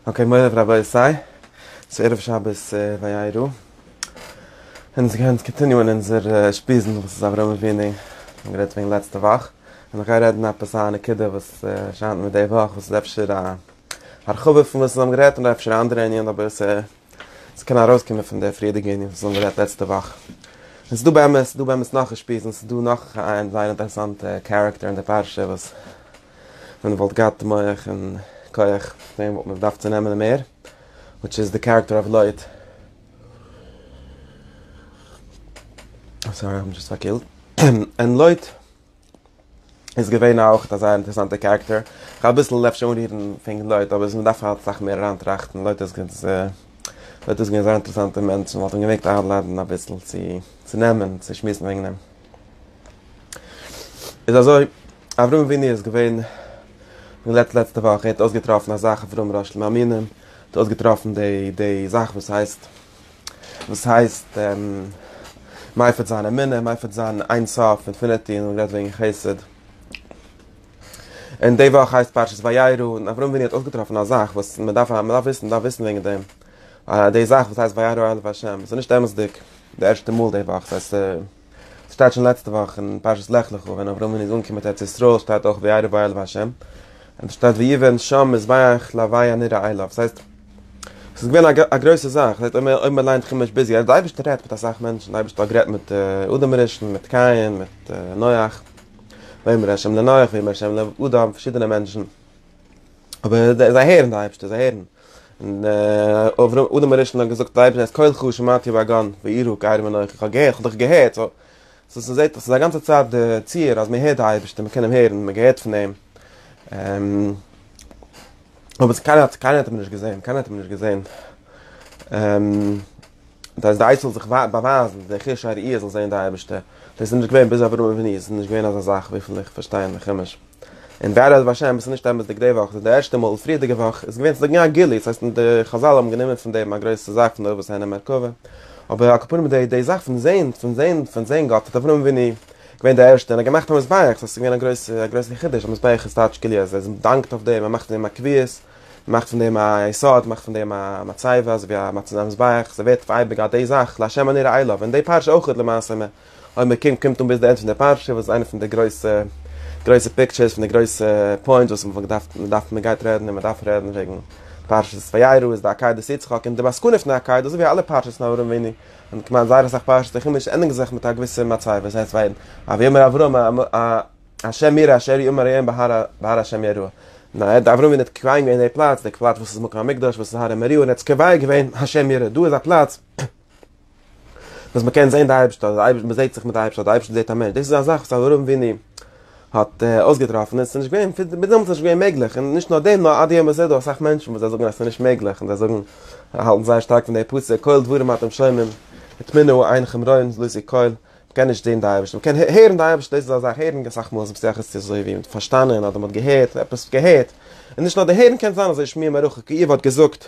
אקעי מוריי ורבותי, ס'איז ערב שבת וירא, און אונז גייען קאנטיניוען אונזער שפיזן וואס איז אברהם אבינו, מיר האבן גערעדט וועגן לעצטע וואך, און איך גיי רעדן עפעס א נקודה וואס שיינט מיר די וואך וואס איז אפשר א הרחבה פון וואס מיר האבן גערעדט און אפשר א אנדערע ענין אבער ס'קען ארויסקומען פון די פריערדיגע ענין וואס מיר האבן גערעדט לעצטע וואך. און ס'איז דא באמת, ס'איז דא באמת נאך א שפיז און ס'איז דא נאך איין זייער אינטערעסאנטע קערעקטער אין די פרשה וואס ווען מ'וואלט געהאט מח און כח דעם וואלט מען געדארפט צו נעמען מער וויטש איז די קערעקטער אוו לויט סארי איים דזשאסט פארקילט און לויט איז געווען אויך אזא אינטערעסאנטע קערעקטער כ'האב אביסל אפשר אנרירן פונקט לויט אבער ס'מען דארף אסאך מער אריינטראכטן לויט איז געווען אזא אינטערעסאנטע מענטש מ'וואלט אים געמעגט איינלאדן אביסל צו צו נעמען צו שמועסן וועגן אים. איז אזוי, אברהם אבינו איז געווען לעצט לעצטע וואך, ער האט אויסגעטראפן א זאך אברהם ר' שלמה אמינו, ער האט אויסגעטראפן די די זאך וואס הייסט וואס הייסט מייפערט זיין אמונה, מייפערט זיין אין סוף, אינפיניטי, און רעדט וועגן חסד. און די וואך הייסט פרשת וירא, און אברהם אבינו האט אויסגעטראפן א זאך וואס מען דארף מען דארף וויסן, מען דארף וויסן וועגן דעם. אה, די זאך וואס הייסט וירא אל ה', עס איז נישט אמת'דיג, די ערשטע מאל די וואך, ס'הייסט עס שטייט שוין לעצטע וואך אין פרשת לך לך ווען אברהם אבינו איז אנגעקומען מיט ארץ ישראל שטייט אויך וירא וירא אל ה', און עס שטייט ויבן שם מזבח להווי הנראה אליו, ס'הייסט עס איז געווען א גרויסע זאך, ס'הייסט אויב מען ליינט חומש ביז יעצט, די אייבערשטער רעדט מיט אסאך מענטשן, די אייבערשטער האט גערעדט מיט אדם הראשון, מיט קין, מיט נח, ויאמר ה' לנח, ויאמר ה' לאדם, פארשידענע מענטשן. אבער זיי הערן די אייבערשטער, זיי הערן. און אברהם, אדם הראשון האט געזאגט צום אייבערשטן, את קולך שמעתי בגן, וירא כי ארום אנכי, כ'האב געהערט, כ'האב דיך געהערט. סאו, סאו ס'זעהט אויס אז א גאנצע צייט די ציור אז מ'הערט די אייבערשטער, מ'קען אים הערן, מ'געהערט פון אים. אבער קיינער האט, קיינער האט אים נישט געזעהן, קיינער האט אים נישט געזעהן. דאס די עצה זיך באווייזן, די חוש הראייה זאל זעהן די אייבערשטער. דאס איז נישט געווען ביז אברהם אבינו, ס'איז נישט געווען אזא זאך וויפיל איך פארשטיי אין די חומש. און בעזרת השם עס איז נישט אמת'דיג די וואך, עס איז די ערשטע מאל, פריערדיגע וואך איז געווען, ס'איז דאך געווען א גילוי, ס'הייסט די חזל האבן גענומען פון דעם א גרויסע זאך פון די אבות הענין מרכבה, אבער על כל פנים די די זאך פון זען פון זען פון זען גאט האט אברהם אבינו געווען די ערשטע און ער האט געמאכט א מזבח, ס'הייסט ס'איז געווען א גרויסע א גרויסע חידוש, א מזבח איז טייטש כלי אז ער דאנקט אויף דעם, ער מאכט פון דעם א קביעות, מאכט פון דעם א יסוד, מאכט פון דעם א מצבה, אזוי ווי א מצבה א מזבח, ס'ווערט אייביג א די זאך, לה' אני אראה לו, און די פרשה אויך למעשה אויב מען קומט קומט אן ביז די ענד פון די פרשה וואס איז איינע פון די גרויסע גרויסע פיקטשערס פון די גרויסע פוינטס וואס מען געדארפט מען דארף מען גייט רעדן און מען דארף רעדן וועגן פרשת וירא איז די עקידת יצחק און די מסקנא פון די עקידה אזוי ווי אלע פרשת נאר ארום וועני און כמעט זייער אסאך פרשת נחומש ענדיגן זיך מיט א געוויסע מצב וואס הייסט ווען א ויאמר אברהם השם ירא אשר יאמר אליהם בהר בהר השם ירא נא עד אברהם איז נישט קוים געווען די פלאץ די פלאץ וואס איז מקום המקדש וואס איז הר המוריה און עטס קובע געווען השם ירא דא איז א פלאץ וואס מ'קען זען די אייבערשטער, די אייבערשטער, מ'זעט זיך מיט די אייבערשטער, די אייבערשטער זעט א מענטש, דאס איז א זאך וואס אברהם אבינו האט אויסגעטראפן, עס איז נישט געווען, ביז דעמאלטס איז נישט געווען מעגליך, און נישט נאר דעם, נאר עד היום הזה איז דא אסאך מענטשן וואס זיי זאגן אז עס איז נישט מעגליך, און זיי זאגן, האלטן זייער שטארק פון די פסוק, קול דברים אתם שומעים, הטמינו עיניכם ראיון ז ל איז די קול, מ'קען נישט זען די אייבערשטער, מ'קען הערן די אייבערשטער, דאס איז א זאך, הערן אסאך מאל איז שייך עס צו אזוי ווי פארשטאנען, אדער מ'האט געהערט, עפעס געהערט, און נישט נאר די הערן קען זיין אזוי שמיעה מרחוק, ווי איוב האט געזאגט,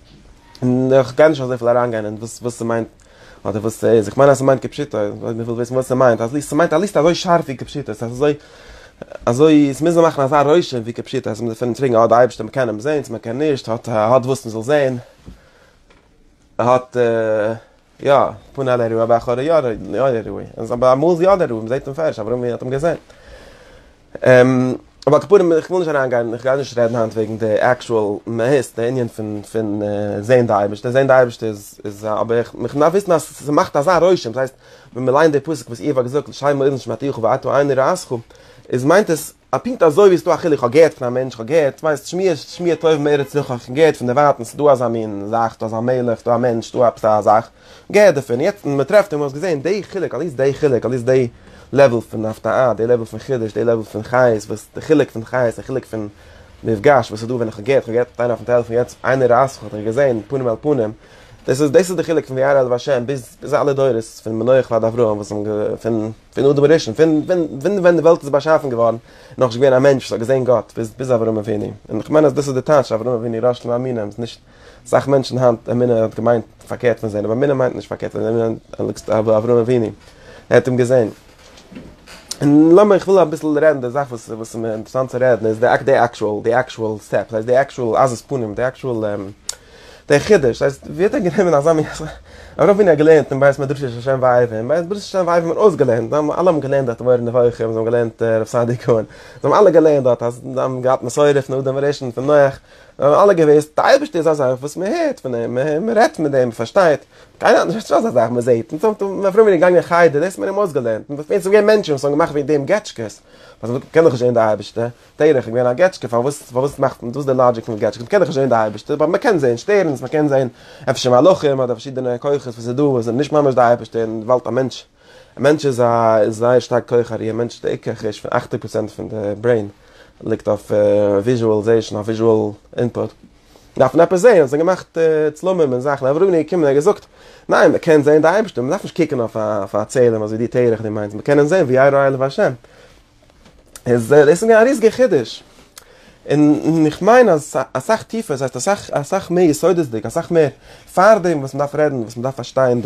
איך גיי נישט אזויפיל אריינגיין אין וואס וואס ס'מיינט אדער וואס ס'איז, איך מיין אז ס'מיינט כפשוטו, אויב מ'וויל וויסן וואס ס'מיינט, אז ס'מיינט א ליסטע אזוי שארף ווי כפשוטו, ס'איז אזוי אזוי ס'מוז מען מאכן אזא רושם ווי כפשוטו, אז מ'דארף פון אים פרעגן, אה די אייבערשטער מ'קען אים זען צו מ'קען נישט, האט האט וואס מ'זאל זען, האט. יא, פארן אן ערוי, אבער אחרי יא די ערוי, אבער אמאל איז יא די ערוי, מ'זעהט אים פערשט, אברומי האט אים געזעהן. אבער על כל פנים, איך וויל נישט אריין גיין, איך גיי נישט רעדן היינט וועגן די עקשועל מהות, די ענין פון פון זעהן די אייבערשטער, זעהן די אייבערשטער איז איז א, אבער איך איך דארף וויסן אז ס'מאכט אזא רושם, ס'הייסט ווען מ'ליינט די פסוק וואס איוב האט געזאגט, לשם אוזן שמעתיך ואתו עיני ראיתך, איז מיינט עס א פונקט אזוי ווי עס איז דא א חילוק איך האב געהערט פון א מענטש, איך האב געהערט, ווייסט, שמועות, שמועה טובה מארץ נוכח, איך האב געהערט פון דערווייטען ס'איז דא אזא מין זאך, ס'איז דא אזא מלך, ס'איז דא א מענטש, ס'איז דא עפעס א זאך, געהערט דערפון, און יעצט מען טרעפט אים, האסט געזען די חילוק, אליס די חילוק, אליס די לעוועל פון הפתעה, די לעוועל פון חידוש, די לעוועל פון חיות, וואס די חילוק פון חיות, די חילוק פון מפגש, וואס איז דא ווען איך האב געהערט, איך האב געהערט מיט איינער אויפן טעלעפאן יעצט, איינער רייסט זיך, האט ער געזען, פנים אל פנים, דאס איז, דאס איז די חילוק פון וירא אל ה' ביז, ביז אלע דורות, פון מנוח ועד אברהם וואס האבן גע, פון. פון אדם הראשון, פון פון ווען די וועלט איז באשאפן געווארן, איז נאכנישט געווען א מענטש וואס האט געזען גאט, ביז ביז אברהם אבינו, און איך מיין אז דאס איז די טייטש אברהם אבינו ראש למאמינים, ס'איז נישט, אסאך מענטשן היינט, אמונה האט געמיינט פארקערט פון זען, אבער אמונה מיינט נישט פארקערט פון זען, אבער אברהם אבינו, ער האט אים געזען. און לאמיר, איך וויל אביסל רעדן די זאך וואס וואס איז מיר אינטערעסאנט צו רעדן, איז די די עקטשועל, די עקטשועל סטעפ, די עקטשועל עזות פנים, די עקטשועל דער חידוש, דאס הייסט, ווי האט ער גענומען אזא מין, אויף ווי מען האט געלערנט אין בית מדרשי של שם ואהבה, אין בית מדרשי של שם ואהבה האט מען אויסגעלערנט, זיי האבן אלע האבן געלערנט דארט מורה נבוכים, זיי האבן געלערנט רב סעדי' קאהן, זיי האבן אלע געלערנט דארט, אז זיי האבן געהאט מסורה פון אדם הראשון פון נח, זיי האבן אלע געוואוסט, די אייבערשטער איז א זאך וואס מען הערט פון אים, מען רעדט מיט אים, מען פארשטייט, קיינער האט נישט אזא זאך מען זעט, אונז האט מען פרומער געגאנגען אין חדר, דאס האט מען אים אויסגעלערנט, און דאס איז געווען מענטשן וואס האבן געמאכט וועגן דעם געטשקעס, אז מען קען דאך נישט זען די אייבערשטער, תרח איז געווען א געטשקע פארוואס פארוואס מאכט מען דאס די לאגיק פון געטשקעס מ'קען דאך נישט זעהן די אייבערשטער באט מ'קען זעהן שטערנס מ'קען זעהן אפשר מלאכים אדער פארשידענע כוחות וואס איז דא וואס זענען נישט ממש די אייבערשטער אין די וועלט א מענטש א מענטש איז א איז זייער שטארק כח הראייה מענטש איז די עיקר חוש פון אַכציק פראצענט פון די ברעין ליגט אויף וויזשועלזעישן אויף וויזשועל אינפוט דארף מען עפעס זעהן ס'זענען געמאכט צלמים און זאכן אבער רוני קומען ער האט געזאגט ניין מ'קען זעהן די אייבערשטער מ'דארף נישט קוקן אויף א אויף א צלם אזוי ווי תרח די מיינסט מ'קען אים זעהן ווי ירא אלוהי והשם. דאס איז מיר א ריזיגע חידוש, און איך מיין אז אסאך טיפער, ס'הייסט אסאך אסאך מער יסודות'דיג, אסאך מער פארדעם וואס מ'דארף רעדן, וואס מ'דארף פארשטיין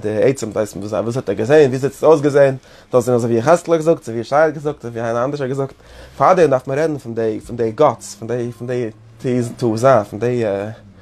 די עצם דאס וואס האט ער געזען, וויאזוי האט עס אויסגעזען, זאל עס זיין אזויווי יחזקאל האט געזאגט, אזויווי ישעי' האט געזאגט, אזויווי איינער אנדערש האט געזאגט, פארדעם דארף מען רעדן פון די פון די גאטס, פון די פון די תעוזה, פון די.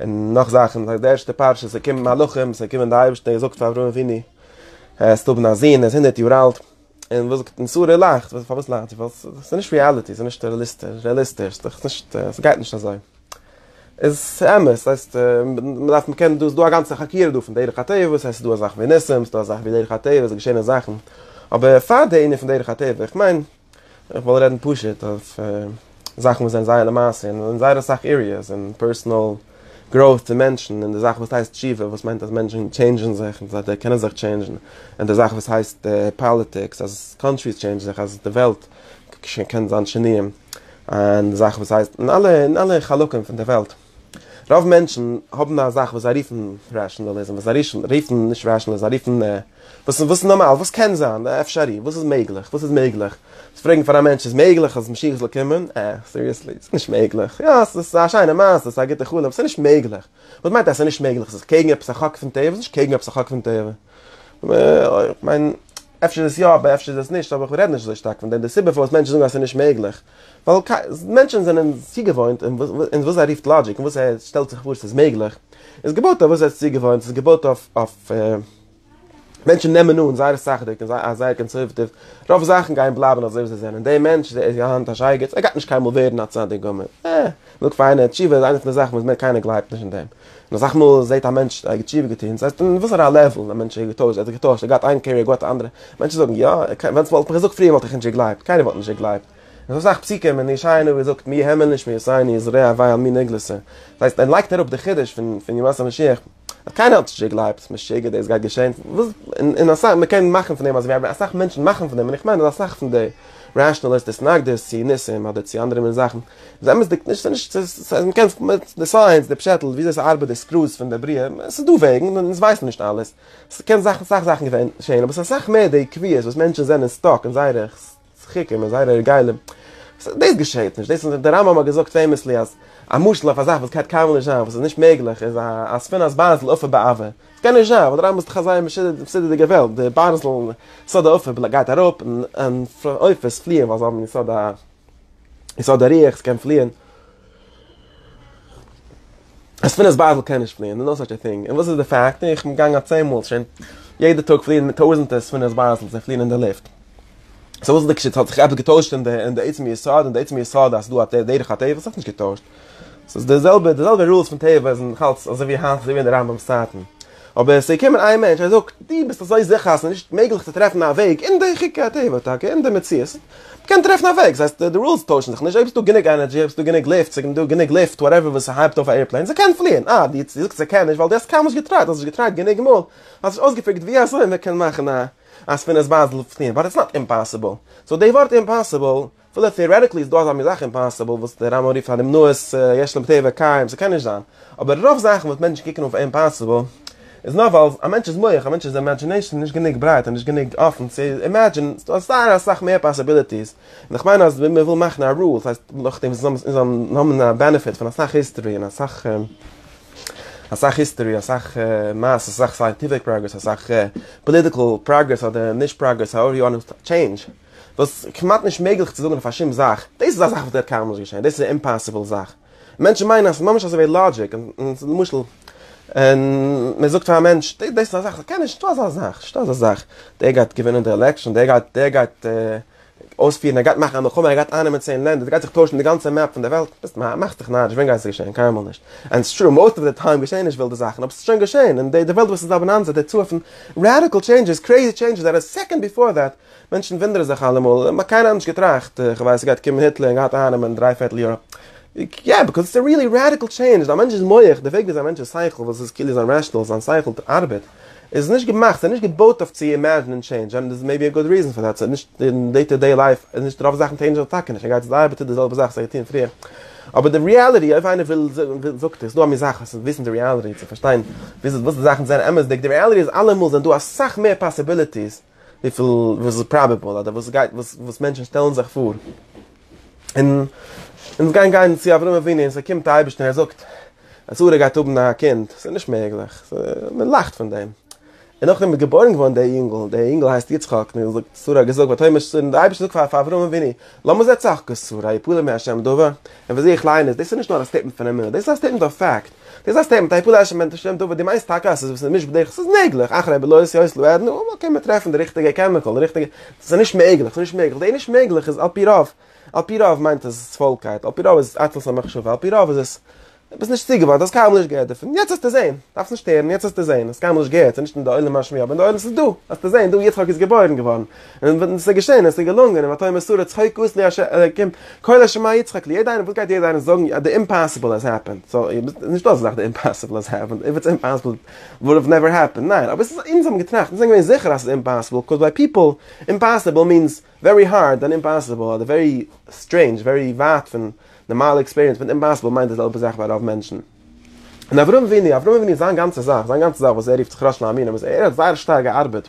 און נאך זאכן, די ערשטע פרשה, ס'קומען מלאכים, ס'קומען די אייבערשטער, ער זאגט פאר אברהם אבינו, העסט האבן א זון, ער איז הונדערט יאר אלט, און וואס זאגט, און שרה לאכט, פארוואס לאכט זי, ווייל ס'איז נישט ריעליטי, ס'איז נישט רעליסטיש, ס'איז נישט, ס'גייט נישט אזוי, איז אמת, ס'הייסט, מ'דארף, מ'קען, דא איז דא א גאנצע חקירה דא פון דרך הטבע, וואס הייסט ס'איז דא אזאך ווי ניסים, ס'איז דא אזאך ווי דרך הטבע, ס'געשעהנען זאכן, אבער פאר די ענין פון דרך הטבע, איך מיין. איך וועל רעדן פשוט אויף זאכן וואס זענען זייער למעשה און אין זייער אסאך עריעס אין פערסאנעל גראוט פון מענטשן און די זאך וואס הייסט תשובה וואס מיינט אז מענטשן טשעינדזשן זיך און זיי קענען זיך טשעינדזשן און די זאך וואס הייסט פאליטיקס אז קאנטריס טשעינדזשן זיך אז די וועלט קען זיין שינויים און די זאך וואס הייסט און אלע חלקים פון די וועלט. רוב מענטשן האבן א זאך וואס זיי רופן ראשענאליזם, וואס זיי רופן נישט ראשענאליזם, זיי רופן וואס איז נארמאל, וואס קען זיין, אפשרי, וואס איז מעגליך, וואס איז מעגליך. צו פרעגן פאר א מענטש איז מעגליך אז משיח זאל קומען? אה, סיריעסלי? ס'איז נישט מעגליך. יא, ס'איז א שיינע מעשה, ס'איז א גוטע חלום, ס'איז נישט מעגליך. וואס מיינט אז ס'איז נישט מעגליך? ס'איז קעגן עפעס א חוק פון טבע? ס'איז נישט קעגן עפעס א חוק פון טבע. כ'מיין, אפשר איז עס יא, אבער אפשר איז עס נישט, אבער כ'רעד נישט אזוי שטארק פון דעם. די סיבה פארוואס מענטשן זאגן אז ס'איז נישט מעגליך, ווייל מענטשן זענען צוגעוואוינט און וואס ער רופט לאגיק און וואס ער שטעלט זיך פאר ס'איז מעגליך, איז געבויט אויף וואס ער איז צוגעוואוינט, ס'איז געבויט אויף מענטשן נעמען אן זייער סאכדיג און זייער קאנסערוואטיוו, רוב זאכן גייען בלייבן אזוי ווי זיי זענען, דער מענטש איז היינט א שייגעץ, ער גייט נישט קיינמאל ווערן א צדיק גמור, עה. זאג פאר איינער, תשובה איז איינע פון די זאכן וואס מער קיינער גלייבט נישט אין דעם. און אסאך מאל זעט א מענטש ער האט תשובה געטון, ס'הייסט אין וואסערע לעוול א מענטש איז געטוישט, ער האט זיך געטוישט, ער געהאט איין קעריער, געהאט א אנדערע. מענטשן זאגן, יא, ווען ס'וואלט מיך געזאגט פריער וואלט איך נישט געגלייבט. קיינער וואלט נישט געגלייבט. און ס'איז אסאך פסוקים אין ישעי' הנביא וואס זאגט, מי האמין לשמועותיני, זרעי עביי על מי נגלסו. ס'הייסט ער לייגט אראפ די חידוש פון ימות המשיח. האט קיינער האט נישט געגלייבט, משוגע דאס גייט געשען, וואס, און אסאך, מען קען מאכן פון דעם אז ווי אסאך מענטשן מאכן פון דעם, און איך מיין אז אסאך פון די רעשאנעליסט התנגדות צו ניסים אדער צו אנדערע מין זאכן, איז אמת'דיג נישט, ס'איז נישט, ס'איז, מען קען, די סייענס, די פשעטל, וויאזוי ס'ארבעט די סקרוס פון די בריאה, ס'איז דא וועגן, און אונז ווייסן נישט אלעס, ס'קען אסאך זאכן געשען, אבער ס'איז אסאך מער די עקביות וואס מענטשן זענען סטאק אין זייערע צחוק און זייערע הרגלים. דאס געשעהט נישט, דאס איז, דער רמב ם האט געזאגט פעימעסלי אז א משל אויף א זאך וואס גייט קיינמאל נישט זיין, וואס איז נישט מעגליך, איז א ספינא'ס בארזל עפר בעבר. עס קען נישט זיין, ווייל דער רמב ם איז דאך א זייער מסודר'דיגער וועלט, די בארזל, יסוד העפר גייט אראפ, און עופות פליען ווייל זיי האבן יסוד א יסוד הריח, עס קען פליען. אז פינעס בייטל קען נישט פליען, נאו סאטש א טינג, און וואס איז די פאקט, איך בין געגאנגען א צען מאל שוין, יעדע טאג פליען טויזענטער פינעס בייטלס, זיי פליען אין די לופט, סא וואס איז די קשיא, האט זיך עפעס געטוישט אין די עצם יסוד, אין די עצם יסוד אז ס'דא א דרך הטבע, ס'האט זיך נישט געטוישט, ס'איז די זעלבע, די זעלבע רולס פון טבע זענען נאכאלץ אזוי ווי היינט, אזוי ווי אין די רמב ם'ס צייטן. אבער ס'איז געקומען איין מענטש, ער זאגט, דו ביסט אזוי זיכער אז ס'איז נישט מעגליך צו טרעפן א וועג אין די חוקי הטבע טאקע, אין די מציאות, מ'קען טרעפן א וועג, ס'הייסט די רולס טוישן זיך נישט, אויב ס'איז דא גענוג ענערדזשי, אויב ס'איז דא גענוג לופט, ס'איז דא גענוג לופט, וואטעווער וואס ס'הייבט אויף א עיראפלעין, ס'קען פליען, אה, דו זאגסט ס'קען נישט ווייל דו האסט קיינמאל נישט געטרייט, האסט נישט געטרייט גענוג מאל, האסט נישט אויסגעפיגערט ווי אזוי מ'קען מאכן א ספינערס באזל פליען, באט איטס נאט אימפאסיבל, סאו די ווארט אימפאסיבל אפילו טעארעטיקלי איז דא אזא מין זאך אימפאסיבל וואס דער רמב ם רופט פאר די מנועת יש להם טבע קיים, ס'קען נישט זיין, אבער רוב זאכן וואס מענטשן קוקן אויף אימפאסיבל איז נאר ווייל א מענטש'ס מח, א מענטש'ס אימעדזשינעישאן איז נישט גענוג ברייט און נישט גענוג אפן צו אימעדזשינען, ס'דא אזא אסאך מער פאסיביליטיס, און איך מיין אז ווען מ'וויל מאכן א רול, ס'הייסט נאכדעם וואס אונז זאלן האבן א בענעפיט פון אסאך היסטארי און אסאך אסאך היסטארי אסאך מעשה אסאך סייענטיפיק פראגרעס אסאך פאליטיקל פראגרעס אדער נישט פראגרעס האוער יו וואנט טו טשעינדזש. וואס כמעט נישט מעגליך צו זאגן אויף א שום זאך, דאס איז א זאך וואס וועט קיינמאל נישט געשען, דאס איז א אימפאסיבל זאך. מענטשן מיינען אז ס'איז ממש אזויווי לאגיק, למשל, מען זאגט פאר א מענטש, דאס איז א זאך, ס'קען נישט, נישטא אזא זאך, נישטא אזא זאך, דער גייט געווינען די עלעקשאן, דער גייט, דער גייט אויספירן, ער גייט מאכן א מלחמה, ער גייט אייננעמען צען לענדער, ס'גייט זיך טוישן די גאנצע מעפ פון די וועלט, ביסט נאר, מאכסט דיך נאריש, ווען גייט עס געשען? קיינמאל נישט. ענד איטס טרו, מאוסט אוו די טיים געשען נישט ווילדע זאכן, אבער ס'איז שוין געשען, און די וועלט וואס איז דא באנאנזע דערצו אויפן, ראדיקל טשעינדזשעס, קרעיזי טשעינדזשעס, דעט איז סעקאנד ביפאר דעט. מענטשן ווינדערן זיך אלעמאל, און האט קיינער אנדערש געטראכט, איך ווייס ס'איז גייט קומען היטלער און גייט אייננעמען דריי פערטל יוראפ, יא ביקאוז איטס א ריעלי רעדיקל טשעינדזש, א מענטש'ס מח, די וועג וויאזוי א מענטש'ס שכל וואס איז כאילו זיין רעשאנעל, זיין שכל ארבעט, איז נישט געמאכט, ס'איז נישט געבויט אויף צו אימעזשענען טשעינדזש, אנד דערס מעיבי א גוד ריזען פאר דעט, ס'איז נישט אין דעי טא דעי לייף, איז נישט רוב זאכן טעינדזשען זיך טאקע נישט, ער גייט צו די ארבעט טוט די זעלבע זאך וואס ער האט געטון פריער, אבער די ריעליטי אויב איינער וויל זאגט עס דא א מין זאך עס וויסן די ריעליטי צו פארשטיין וואס די זאכן זענען אמת'דיג, די ריעליטי איז אלעמאל זענען דא אסאך מער פאסיביליטיס, וויפיל וואס איז פראבעבל אדער וואס גייט וואס וואס מענטשן שטעלן זיך פאר און אונז גיין גיין צו אברהם אבינו און ס'קומט א אייבערשטער און ער זאגט אז שרה גייט האבן א קינד ס'איז נישט מעגליך מען לאכט פון דעם און נאכדעם איז געבוירן געווארן דער אינגל דער אינגל הייסט יצחק און ער זאגט שרה האט געזאגט ותאמר שרה און דער אייבערשטער זאגט פאר פאר אברהם אבינו למה זה צחקה שרה יפלא מהשם דבר און וואס איך ליין איז דאס איז נישט נאר א סטעיטמענט פון אמונה דאס איז א סטעיטמענט אויף פאקט די זעסט איהם מיט א היפאלעשן מענטל שטורם דוד די מיינסט טאקע אז ס'איז וואס איז נישט בדרך ס'איז מעגליך אחרי בלויז יוס לו עד נו קען מען טרעפן די ריכטיגע קעמיקאל די ריכטיגע ס'איז נישט מעגליך ס'איז נישט מעגליך די נישט מעגליך איז על פי רוב על פי רוב מיינט עס פוילקייט על פי רוב איז עס עצלות המחשבה על פי רוב איז עס ביסט נישט צוגעווארנט האסט קיינמאל נישט געהערט דערפון יעצט האסטו זעהן דארפסט נישט הערן יעצט האסטו זעהן האסט קיינמאל נישט געהערט ס'איז נישט אין די עולם השמיעה אבער אין די עולם ס'איז דא האסטו זעהן דא יצחק איז געבוירן געווארן און ס'איז געשען, און ס'איז געלונגען, און ותהי מסורה צחוק אסני ה' אלקים, קול השמע יצחק לי, יעדע איינער, וואס גייט יעדע איינער זאגן, די אימפאסיבל האס העפענד, סאו, נישט דא אזא זאך די אימפאסיבל האס העפענד, איף איטס אימפאסיבל, איט וואלד האוו נעווער העפענד, ניין, אבער ס'איז, אונז האבן געטראכט, אונז זענען געווען זיכער אז ס'איז אימפאסיבל, קאז ביי פיפל, אימפאסיבל מיענס, ווערי הארד, און אימפאסיבל, אדער ווערי סטרעינדזש, ווערי ווייט פון נארמאלע עקספיריענס, מיט אימפאסיבל מיינט די זעלבע זאך ביי רוב מענטשן. און אברהם אבינו, אברהם אבינו זיין גאנצע זאך, זיין גאנצע זאך וואס ער רופט זיך ראש להאמינים, איז ער האט זייער שטארק געארבעט,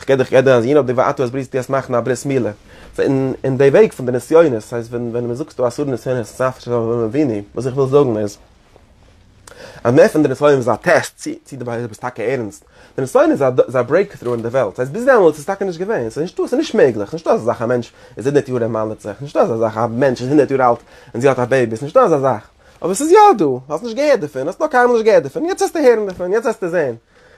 כ'קען דיך געדער אז יענע האט די ואטו אז בריסט די אז מאכן א ברית מילה אין אין די וועג פון די נסיונות סאיז ווען ווען מען זאגסטו אסור נסיונות סאפ ש ו מביני וואס איך וויל זאגן איז אז מער פון די נסיון איז א טעסט צי צי די באהערע ביסט טאקע ערענסט די נסיון איז איז א ברעיק טרו אין די וועלט סאיז ביז דעמאלטס איז טאקע נישט געווען סאיז נישטא סאיז נישט מעגליך נישטא אזא זאך א מענטש איז הונדערט יאר ער מל'עט זיך נישטא אזא זאך א מענטש איז הונדערט יאר אלט און זי האט א בעיבי סנישטא אזא זאך אבער סאיז יא דא האסט נישט געהערט דערפון האסט נאך קיינמאל נישט געהערט דערפון יעצט העסטו הערן דערפון יעצט העסטו זעהן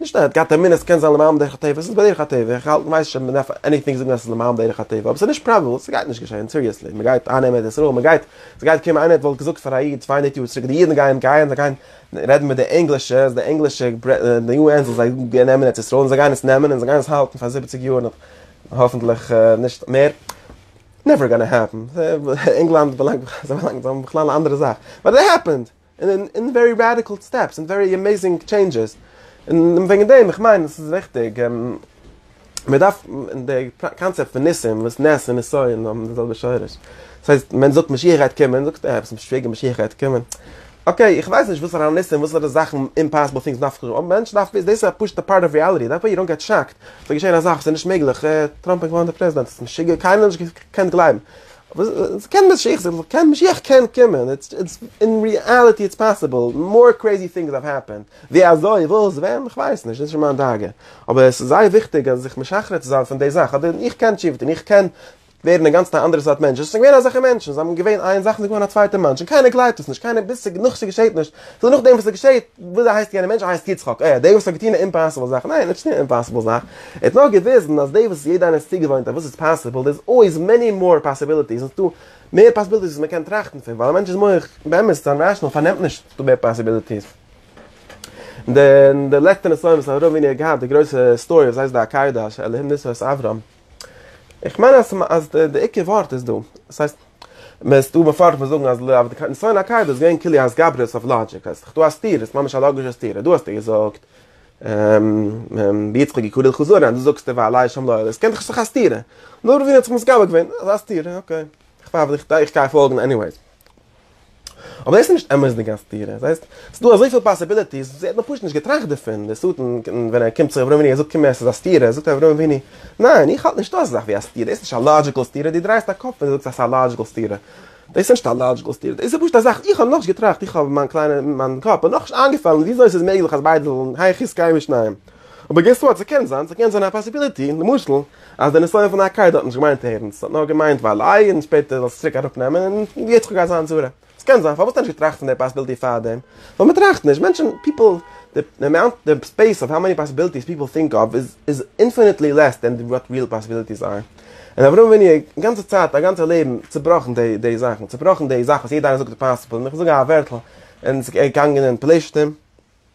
נישט אז ער האט געהאט אמונה אז ס'קען זיין למען דרך הטבע, ס'איז בדרך הטבע, איך האלט מ'ווייסט נישט אויב מ'דארף עניטינג זאגן אז ס'איז למען דרך הטבע, אבער ס'איז נישט פראבעבל, ס'גייט נישט געשען, סיריעסלי, מ'גייט אייננעמען ארץ ישראל, מ'גייט, ס'גייט קומען איינער האט וואלט געזאגט פאר א איד צוויי הונדערט יאר צוריק די אידן גייען גייען זיי גייען רעדן מיט די ענגלישע, אז די ענגלישע די יו ען זאל זיי נעמען ארץ ישראל, און זיי גייען עס נעמען, און זיי גייען עס האלטן פאר זיבעציג יאר נאך, האפענטליך נישט מער, נעווער גאנא העפען, ענגלאנד באלאנגט, זיי באלאנגט, זיי האבן בכלל א אנדערע זאך, באט איט העפענד! און אין ווערי רעדיקעל סטעפס און ווערי עמעזינג טשעינדזשעס, און וועגן דעם איך מיין עס איז וויכטיג, מען דארף, און די קאנצעפט פון ניסים, וואס נס און נסיון האבן די זעלבע שורש, דאס הייסט מען זאגט משיח גייט קומען, זאגסטו אה ביסט משוגע משיח גייט קומען, אקעי איך ווייס נישט וואסערע ניסים וואסערע זאכן אומפאסיבל טינגס מען דארף קומען, אבער מענטשן דארפן וויסן דאס איז א פשוט'ע פארט אוו ריעליטי, דאנט ווערי יו דאנט געט שאקד, ס'וועט געשען א זאך וואס איז נישט מעגליך, אה טראמפ גייט ווערן דער פרעזידענט, ביסט משוגע קיינער האט נישט געקענט גלייבן וואס קען משיח זיין? קען משיח קען קומען? איטס אין ריעליטי איטס פאסיבל, מאר קרעזי טינגס האוו העפענד, ווי אזוי, וואס, ווען, איך ווייס נישט, נישט מיין דאגה, אבער עס איז זייער וויכטיג אז זיך משחרר צו זיין פון די זאך, אדער איך קען טשיפ טון, איך קען ווערן אינגאנצן א אנדערע סארט מענטש, עס זענען געווען אזעלכע מענטשן, זיי האבן געווען איין זאך און זענען געווארן א צווייטע מאנטש, און קיינער גלייבט עס נישט, קיינער ביסט זיך נאך ס'געשעט נישט. סאו נאכדעם וואס עס געשעהט, וויאזוי הייסט יענער מענטש? ער הייסט יצחק. אה, דער וואס האט געטוהן די אימפאסיבל זאך? ניין, ער האט נישט געטוהן די אימפאסיבל זאך. ער האט נאר געוויזן אז דאס וואס יעדער איינער איז צוגעוואוינט אז וואס איז פאסיבל, דער איז אלוועיס מעני מאר פאסיביליטיס, און עס איז דא מער פאסיביליטיס וואס מען קען טראכטן פון, ווייל א מענטש'ס מח, באמת, זיין ראשענאל פארנעמט נישט ס'איז דא מער פאסיביליטיס. די לעצטע נסיון וואס הרב ווינער האט געהאט, די גרויסע סטארי וואס הייסט די עקידה של אלהים ניסו את אברהם. איך מיין אז אז די עיקר ווארט איז דא, עס הייסט, מען איז דא מפרש מען זאגן אז ל ע די ניסיון הק' דאס איז געווען כולי התגברות אויף לאגיק, אז ס'דא א סתירה, ס'איז ממש א לאגישע סתירה, דא האסטו געזאגט ביצחק יקולל חזון רע, דא זאגסטו ועלי אשם לא אעלה, עס קען דאך נישט זיך א סתירה, נאר רבינו האט זיך מסגבר געווען אז א סתירה, אקעי, איך גיי פאלגן עניוועיס. אבער דאס איז נישט אמת'דיג א סתירה, דאס הייסט, ס'איז דא אזויפיל פאסיביליטיס, זי האט נאר פשוט נישט געטראכט דערפון, דער שטן ווען ער קומט צו אברהם אבינו, ער זאגט קום עס איז א סתירה, זאגט אברהם אבינו, ניין, איך האלט נישט דאס זאך ווי א סתירה, דאס איז נישט א לאדזשיקעל סתירה, דו דרייסט א קאפ ווען דו זאגסט אז ס'איז א לאדזשיקעל סתירה, דאס איז נישט א לאדזשיקעל סתירה, דאס איז פשוט א זאך, איך האב נאכנישט געטראכט, איך האב מיין קליינע, מיין קאפ האט נאכנישט איינגעפאלן וויאזוי ס'איז מעגליך אז ביידע זאלן, היכי סקיימי שניהם, אבער געס וואט, ס'קען זיין, ס'קען זיין א פאסיביליטי, למשל. אז די נסיון פון הק' האט נישט געמיינט ערנסט, ס'האט נאר געמיינט וויילעיי און שפעטער זאלסטו צוריק אראפ נעמען און יעצט קוק אז זיין צורה. ס'קען זיין, פארוואס האט ער נישט געטראכט פון די פאסיביליטי פארדעם? ווייל מ'טראכט נישט, מענטשן, פיפל, די עמאונט, די ספעיס אוו האו מעני פאסיביליטיס פיפל טינק אוו איז איז אינפיניטלי לעס דען וואט ריעל פאסיביליטיס אר. און אברהם אבינו א גאנצע צייט, א גאנצע לעבן צובראכן די די זאכן, צובראכן די זאך וואס יעדער איינער זאגט איז פאסיבל, און איך זאג א ווערטל און ס'געגאנגען אין פלשתים,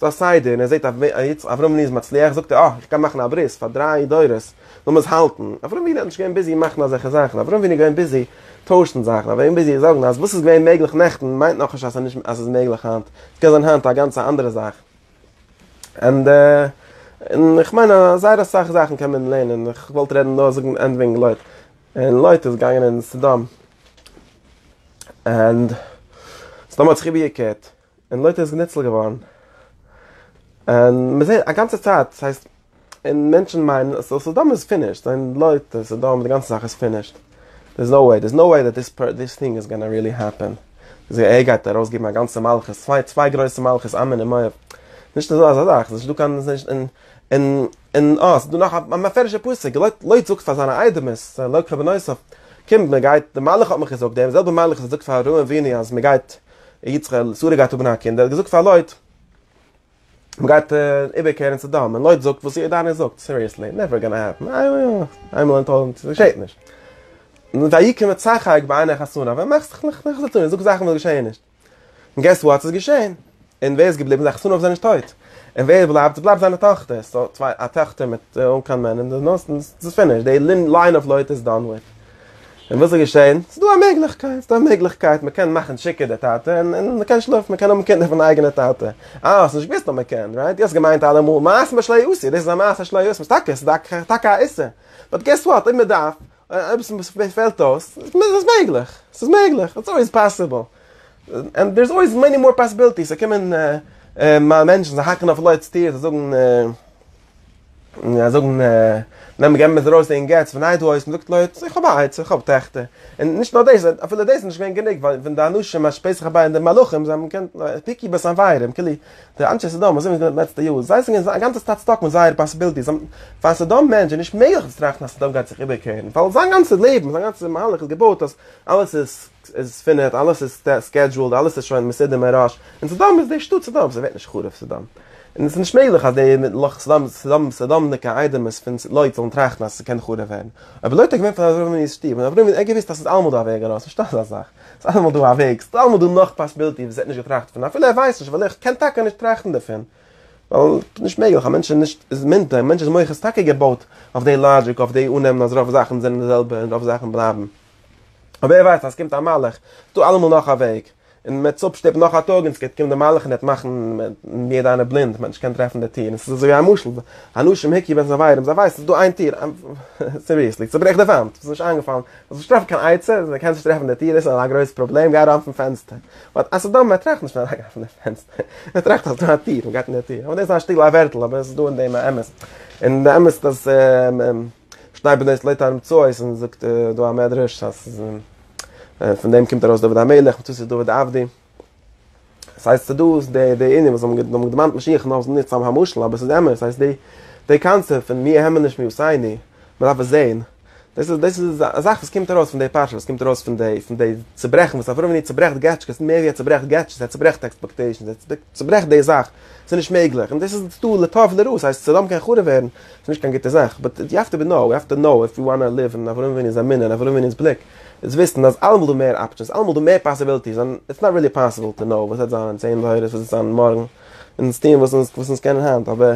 ס'איז א סדר, און ער זעט אז ווען יעצט אברהם'ן איז מצליח זאגט ער אה, איך קען מאכן א ברית פאר דריי דורות, לאמיר עס האלטן. אברהם'ן איז נישט געווען ביזי מאכן אזעלכע זאכן, אברהם'ן איז געווען ביזי טוישן זאכן, אברהם'ן איז ביזי זאגן אז וואס איז געווען מעגליך נעכטן מיינט נאך נישט אז ס'איז נישט אז ס'איז מעגליך היינט, ס'קען זיין היינט א גאנצע אנדערע זאך. ענדע. און איך מיין אז זייער אסאך זאכן קען מען לערנען, איך וואלט רעדן נאר זאגן ענד וועגן לוט, און לוט איז געגאנגען אין סדום, ענד סדום האט זיך איבערגעקערט. און לויטער איז געניצל געווארן. און מען זעט א גאנצע צייט, דאס הייסט, און מענטשן מיינען אז סדום איז פינישט, זיי זענען לויט אז סדום די גאנצע זאך איז פינישט, דער איז נאו וועי, דער איז נאו וועי דעט דיס פע דיס טינג איז גאנא ריעלי העפען, זיי ער גייט ארויס געבן א גאנצע מלכות, צוויי צוויי גרויסע מלכות עמון און מואב, נישט אזא אזא זאך, ס'איז נישטא קיין ס'איז נישט און און און אה ס'איז דא נאך א מפרש'ע פסוק, לויט לויט זאגט פאר זיינע איידעמעס, לויט רבי נוסף, קומט מען גייט, די מלאך האט מיך געזאגט, דער זעלבער מלאך וואס האט געזאגט פאר אהרן אבינו אז מען גייט יצחק'ל איז צוריק גייט האבן א קינד, ער האט געזאגט פאר לויט מען גייט איבער קערן סדום, און לויט זאגט וואס ירדני זאגט, סיריעסלי, נעווער גאנא העפן, איינמאל אין טויזנט, געשעט נישט. און ויקם יצחק בעיני חסרוניו, ווען מאכסט דיך נאך נישט צו טון, זאגסט זאכן וואס געשעען נישט. און געסס וואט, ס'איז געשען. און ווער איז געבליבן, זיין חסרוניו זענען נישט טויט. און ווער בלייבט, עס בלייבט זיינע טאכטער, ס'איז דא צוויי, א טאכטער מיט אן קיין מען, און די נאנסענס, ס'איז פינישט, די ליין אוו לויט איז דאן וויט. און וואס איז געשען? ס'איז דא א מעגליכקייט, ס'איז דא א מעגליכקייט מ'קען מאכן טשיקע די טאטע און און מ'קען שלאפן, מ'קען האבן קינדער פון די אייגענע טאטע. אה, האסט נישט געוואוסט אז מ'קען, רייט? דו האסט געמיינט אלעמאל מעשים בשלא עשו, דאס איז א מעשה שלא עשו, טאקע, ס'איז דא טאקע א איסור, באט געס וואט, אויב מ'דארף, אויב עס פעלט אויס, איז עס מעגליך, ס'איז מעגליך, איטס אלוועיס פאסיבל. ענד דער'ס אלוועיס מעני מאר פאסיביליטיס, ס'קומען מענטשן, זיי האקן אויף לויט'ס טיר, זיי זאגן. און זאגן נעם מיר געבן עס ארויס אין געץ פון איין הויז, מ'זאגט לויט איך האב א עצה איך האב טעכטער, און נישט נאר דאס אפילו דאס איז נישט געווען גענוג ווייל ווען די אנשים אז שפעט זיך אביי אין די מלאכים זיי האבן געקענט פיקי בעס אנווייערען כאילו די אנשי סדום וואס זעמיר געזען די לעצטע יאר זיי זענען א גאנצע צייט סטאק מיט זייער פאסיבילטי זיי האבן פאר א סדום מענטש איז נישט מעגליך צו טראכטן אז סדום גייט זיך איבערקערן ווייל זיין גאנצע לעבן זיין גאנצע מהלך איז געבויט אז אלעס איז איז פינעט, אלעס איז סקעדזשועלד, אלעס איז שוין מסודר מראש, און סדום איז די שטאט סדום, ס'ווערט נישט חרוב סדום, און ס'איז נישט מעגליך אז די לח ס סדום סדומ'דיגע איידעמערס פון לוט זאלן טראכטן אז ס'קען חרוב ווערן, אבער לוט איז געווען פון אברהם אבינו שטוב, און אברהם האט געוואוסט אז ס'איז אלעמאל דא א וועג ארויס, נישטא אזא זאך, ס'איז אלעמאל דא א וועג, ס'איז אלעמאל דא נאך פאסיביליטי וואס ער האט נישט געטראכט דערפון, אפילו ער ווייסט נישט, ווייל ער קען טאקע נישט טראכטן דערפון, ווייל נישט מעגליך, א מענטש איז נישט איז מינט, א מענטש'ס מח איז טאקע געבויט אויף די לאגיק, אויף די אננעמען אז רוב זאכן זענען די זעלבע און רוב זאכן בלייבן. אבער ווער ווייסט אז עס קומט א מלאך, ס'איז דא אלעמאל נאך א וועג, און מען וועט אפשטופן נאך א טאג און עס וועט קומען די מלאך און וועט מאכן מיר און דיינע בלינד, מען וועט נישט קענען טרעפן די טיר, און ס'איז אזוי ווי א משל, האנשים היכי בין זווירים, זיי ווייסן ס'איז דא איין טיר, סיריעסלי, צוברעך די וואנט, ס'איז נישט איינגעפאלן, זאלסט נישט טרעפן קיין עצה, זיי קענען נישט טרעפן די טיר, דאס איז א גרויסע פראבלעם, גיי אריין פון פענסטער, באט א סדום מען טראכט נישט פון אריינגיין פון די פענסטער, מען טראכט אז דא א טיר, מען גייט אין די טיר, אבער דאס איז א שטיקל א ווערטל, אבער עס איז דא אין דעם א אמת, און די אמת אז. שניי בלעזט לעת ערום צו אויס און זאגט דא א מדרש אז פון דעם קומט ארויס דוד המלך מצות איז דוד עבדי עס הייסט צו דא איז די די ענין וואס האבן געדאמט געדעמאנט משיח נאר ס'איז נישט סתם א משל אבער ס'איז אמת עס הייסט די די קאנצעפט פון מי העמען נישט מי עושני מ'דארף עס זעהן דאס איז דאס איז א זאך וואס קומט ארויס פון די פרשה וואס קומט ארויס פון די פון די צוברעכן וואס אברהם אבינו צוברעכט געטשקעס מער ווי ער צוברעכט געטשעס ער צוברעכט עקספעקטעישנס ער צוברעכט די זאך ס'איז נישט מעגליך, און דאס איז דא לטב און לרע, ס'הייסט ס'זאל האבן קיין חרוב ווערן, ס'איז נישט קיין גוטע זאך, באט יו האוו טו נאו, יו האוו טו נאו איף יו וואנא ליוו אין אברהם אבינו'ס אמונה און אברהם אבינו'ס בליק, איז וויסן אז אלעמאל דא מער אפשענס, אלעמאל דא מער פאסיביליטיס, און איטס נאט ריעלי פאסיבל טו נאו וואס וועט זיין אין צען דורות, וואס וועט זיין מארגן, און אונז טוען וואס אונז וואס אונז קענען היינט, אבער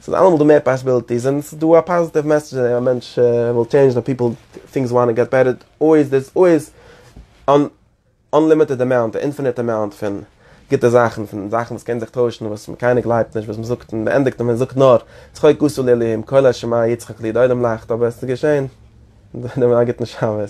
ס'איז אלעמאל דא מער פאסיביליטיס, און ס'איז דא א פאזיטיוו מעסעדזש אז א מענטש וויל טשעינדזש, פיפל טינקס וואנט טו געט בעטער, אויז דערס אויז אן. אנלימיטעד אמאונט, א אינפיניט אמאונט פון גוטע זאכן, פון זאכן וואס קען זיך טוישן, וואס קיינער גלייבט נישט וואס מען זאגט, און מ'ענדיגט און מען זאגט נאר, צחוק עשו לאלהים, קול ה' שמע יצחק לי, די עולם לאכט, אבער עס איז געשען, א גוטן שבת.